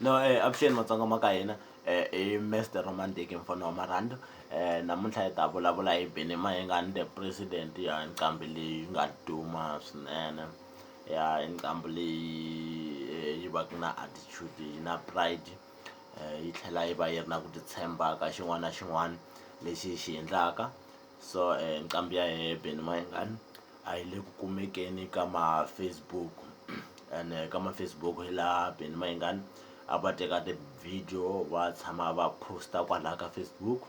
no um avuxeni matsonga ma ka hina um i mister romantiki mfana wa marhanda um namuntlha hi ta vulavula hi bini mayengani the president ya nqambi leyi nga duma swinene ya nqambi leyi yi va ku na attitude yi na pride yi tlhela yi va yi ri na ku titshemba ka xin'wana na xin'wana lexi yi xi endlaka So nqambi ya hehe Benny Mayengani a yi le ku kumekeni ka ma-Facebook ene ka ma-Facebook hi laha Benny Mayengani a va teka ti-video va tshama va post-a kwalaya ka Facebook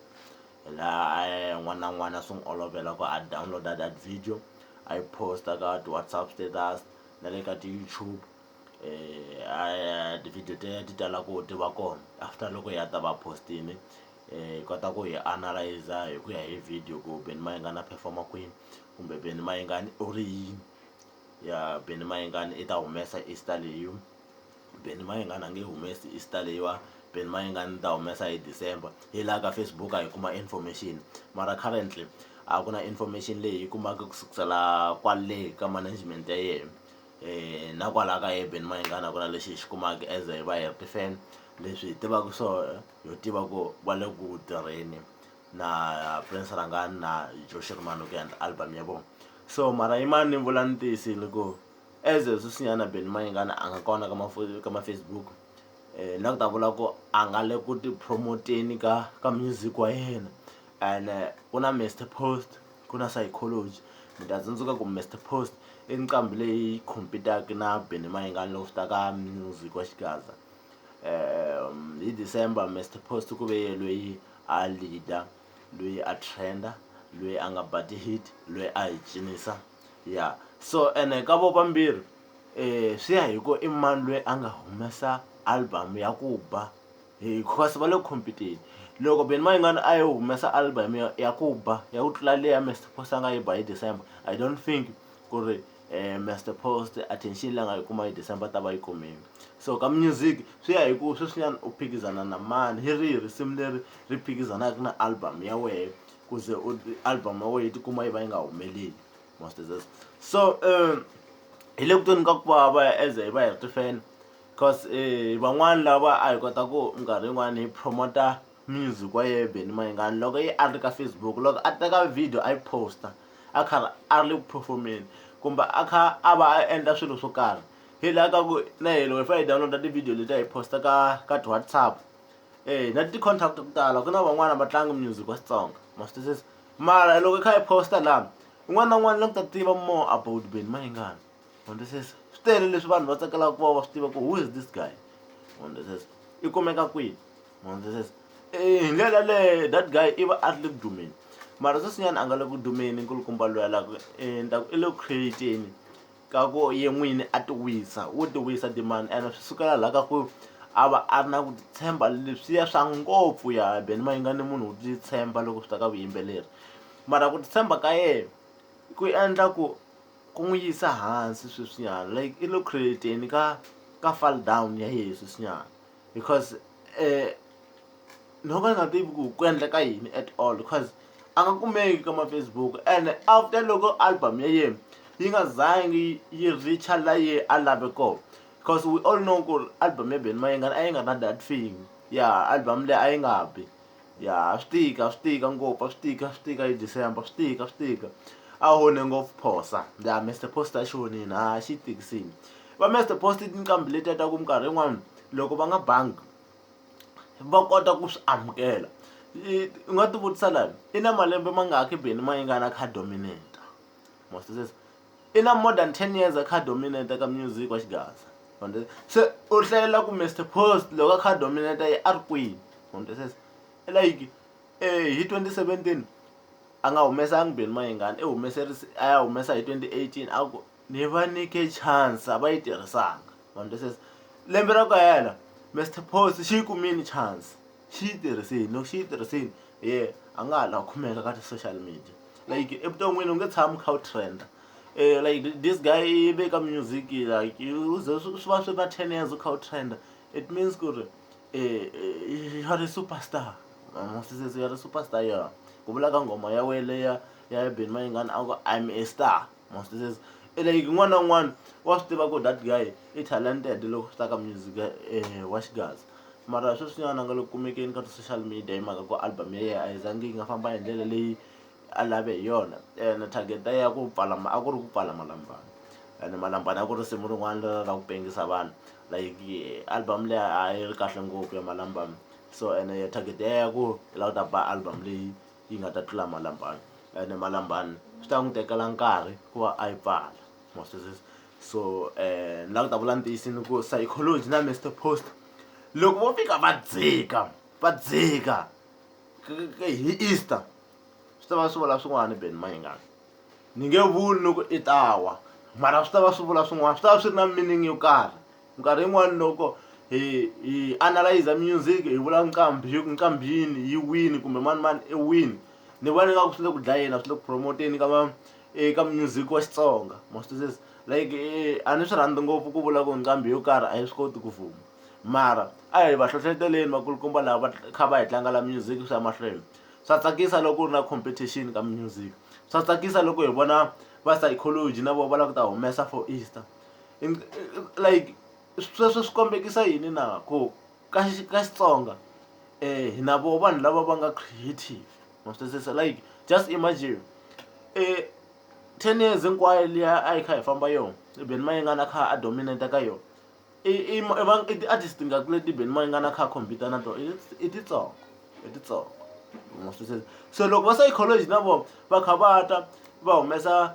hi laha a n'wana na n'wana swi n'wi olovela ku a download-a that video a yi post-a ka ti-WhatsApp status na le ka ti-YouTube. a ti-video teto ti tala ku ti va kona after loko ya ta va post-ini hi kota ku hi analyse hi ku ya hi video ku beni mayengani a perform-a kwini kumbe beni mayengani u ri yini ya beni mayengani i ta humesa Easter leyiwa beni mayengani a nge humesi Easter leyiwa beni mayengani ni ta humesa hi December hi laha ka Facebook a hi kuma information mara currently a ku na information leyi hi yi kumaka ku sukusela kwale ka management ya yena. na kwalaya ka hi mayengani a ku na lexi hi xi kumaka as hi va hi ri ti-fan leswi hi tivaka swona ho tiva ku va le ku tirheni na Prince Rhangani na Joe Shirimani ku endla album ya vona so mara yi mani ni vula ni tiyisile ku as a sweswinyana Benny Mayengani a nga kona ka ka ma-Facebook na ku ta vula ku a nga le ku ti-promote-eni ka ka music wa yena ene ku na Mister Post. ku na psychology mi ta tsundzuka ku Mister Post i nqambi leyi compete-aka na Benny Mayengani loko swi ta ka music wa xigaza hi December Mister Post ku ve yena loyi a leader loyi a trend-a loyi a nga ba ti-hit loyi a hi cinisa ya so ene ka vo vambirhi swi ya hi ku i mani loyi a nga humesa album ya ku ba. Hinkwaswo va le ku compete-eni loko Benny Mayengani a yo humesa album ya ya ku ba ya ku tlula leyi ya Mister Post a nga yi ba hi December I don't think ku ri Mister Post attention leyi a nga yi kuma hi December a ta va a yi kumile so ka music swi ya hi ku sweswinyana u phikizana na mani hi rihi risimu leri ri phikizanaka na album ya wehe ku ze u album ya wena yi tikuma yi va yi nga humeleli most of this so hi le ku tweni ka ku vava as hi va hi ri ti-fan Cause hi van'wani lava a hi kota ku minkarhi yin'wani hi promote-a music wa yehe Benny Mayengani loko ye a ri ka Facebook loko a teka video a yi post-a a karhi a ri le ku perform-eni kumbe a kha a va a endla swilo swo karhi hi la ka ku na hina loko hi fane hi download-a ti-video letiya hi post-a ka ka ti-WhatsApp na ti-contact ta ku tala ku na van'wani a va tlangi music wa Xitsonga ma swi twisisa mara loko hi kha hi post-a la un'wana na un'wana la ku ta tiva more about Benny Mayengani. Hundzisisa swi tele leswi vanhu va tsakelaka ku va va swi tiva ku who is this guy hundzisisa i kumeka kwihi hundzisisa hi ndlela yaleyo that guy i va a ri le ku dumeni mara sweswinyana a nga le ku dumeni nkulukumba luya la ku i ni ta ku i le ku create-ni ka ku ye n'wini a ti wisa wo ti wisa timali ene swi sukela laha ka ku a va a ri na ku titshemba leswiya swa ngopfu ya beni ma yingani munhu u titshemba loko swi ta ka vuyimbeleri mara ku titshemba ka yena ku endla ku Ku n'wi yisa hansi sweswinyana like i lo create-eni ka ka fall down ya yehe sweswinyana because no ka ni nga tivi ku ku endleka yini at all because a nga kumeki ka ma-Facebook ene after loko album ya yena yi nga zangi yi reach-a la ye a lave kona cause we all know ku ri album ya Benny Mayengani a yi nga ri na that thing ya album leyi a yi nga bi. ya swi tika swi tika ngopfu a swi tika swi tika hi December swi tika swi tika a onhe ngopfu phosa ya Mister Post a xi onhini ha xi tikisini va Mister Post i tinqambi letiya ta ku minkarhi yin'wani loko va nga bangi va kota ku swi amukela u nga ti vutisa la i na malembe mangaki beni ma yi nga na card dominator ma swi twisisa. i na more than 10 years a kha dominate ka music wa xigaza se u hlayela ku mr post loko a kha dominate yi a ri kwini sweswo like eh, hi 2017 a nga humesanga beni mayengani i humese a ya humesa hi 2018 a ku ni va nyike chance a va yi tirhisanga sweswo lembe ra ku hela mr post xi yi kumile chance xi yi tirhisini loko xi yi tirhisini hi ye a nga ha la khumeka ka ti-social media like evuton'wini u nge tshami u kha u trend-a like this guy i ve ka music like u ze swi swi va swi ri na ten years u kha u trend-a it means ku ri u are a super star ma ma swi u are a super star ya ku vula ka nghoma ya wena leya ya Benny Mayengani a ku I'm a star. ma swi twisisa i like un'wana na un'wana wa swi tiva ku that guy i talented loko swi ta ka music wa xigaza mara sweswinyana a nga le ku kumekeni ka ti-social media hi mhaka ku album ya yena a yi zangi yi nga famba hi ndlela leyi a lave hi yona ene target ya ku pfala a ku ri ku pfala malambani ene malambani a ku ri risimu rin'wana ra ra ku pengisa vanhu like album leyi a yi ri kahle ngopfu ya malambani so ene target ya ya ku yi lava ku ta ba album leyi. yi nga ta tlula malambani ene malambani swi ta n'wi tekela nkarhi ku va a yi pfala ma swi twisisa so ni lava ku ta vula ntiyiso ni ku psychology na mister post loko vo fika va dzika va dzika hi easter swi ta va swi vula swin'wana ben mayengani ni nge vuli ni ku i ta wa mara swi ta va swi vula swin'wana swi ta va swi ri na meaning yo karhi. Minkarhi yin'wana loko hi hi analyze music hi vula nqambi hi ku nqambi yini yi wini kumbe mani mani i wini ni vona ingaku swi le ku dlayeni a swi le ku promoteni ka ma eka music wa xitsonga ma swi twisisa like eh, a ni swi rhandzi ngopfu ku vula ku nqambi yo karhi a yi swi koti ku vuma mara a hi va hlohleteleni vakulukumba lava va kha va hi tlangela music swi ya mahlweni swa tsakisa loko ku ri na competition ka music swa tsakisa loko hi vona va psychology na vona va lava ku ta humesa for easter like sweswo swi kombekisa yini na ku ka ka Xitsonga hi na voho vanhu lava va nga creative ma swi twisisa like just imagine ten years hinkwayo liya a yi kha hi famba yona i Benny Mayengani a kha a dominate ka yona i i i ti-artist tingaki leti Benny Mayengani a kha a compete na tona i titsongo i titsongo ma swi twisisa so loko va sa yi collage na vona va kha va ta va humesa.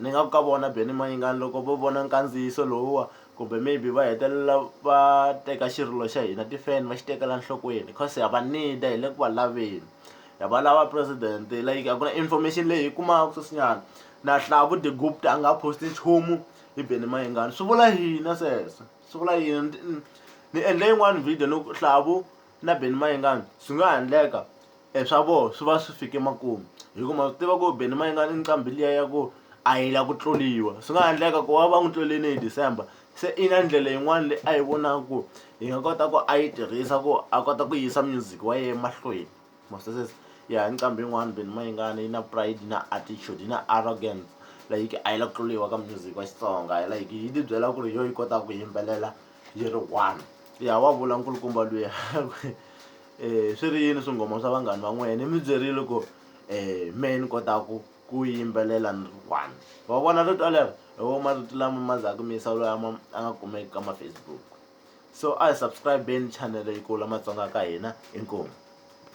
Ni nga ku ka vona Benny Mayengani loko vo vona nkandziyiso lowuwa kumbe maybe va hetelela va teka xirilo xa hina ti-fan va xi tekela nhlokweni cause ha va need-a hi le ku va laveni ha va lava president like a ku na information leyi hi yi kumaka sweswinyana na Hlavu de Gupta a nga ha post-i nchumu hi Benny Mayengani swi vula yini sweswo swi vula yini ni ni endle yin'wani video ni ku Hlavu na Benny Mayengani swi nga ha endleka e swa vona swi va swi fike makumu hi ku ma swi tiva ku Benny Mayengani i nqambi liya ya ku a yi la ku tluriwa swi nga ha endleka ku va va n'wi tlurile hi December se i na ndlela yin'wana leyi a yi vonaka ku hi nga kota ku a yi tirhisa ku a kota ku yisa music wa yena emahlweni ma swi twisisa ya hi nqambi yin'wana Benny Mayengani yi na pride yi na attitude yi na arrogance like a yi la ku tluriwa ka music wa Xitsonga like yi tibyela ku ri hi yona yi kotaka ku yimbelela. yi ri one ya wa vula nkulukumba luya um eh, swi ri yini swinghoma swa vanghani va n'wina ni mi byerile ku um me ni kotaku ku yimbelela ni ri one va vona rito alero hi wo marito lama ma zaku mi yisa loyi ama a nga kumeki ka mafacebook so a hi subscribeni chanele yi kula matsonga ka hina inkomu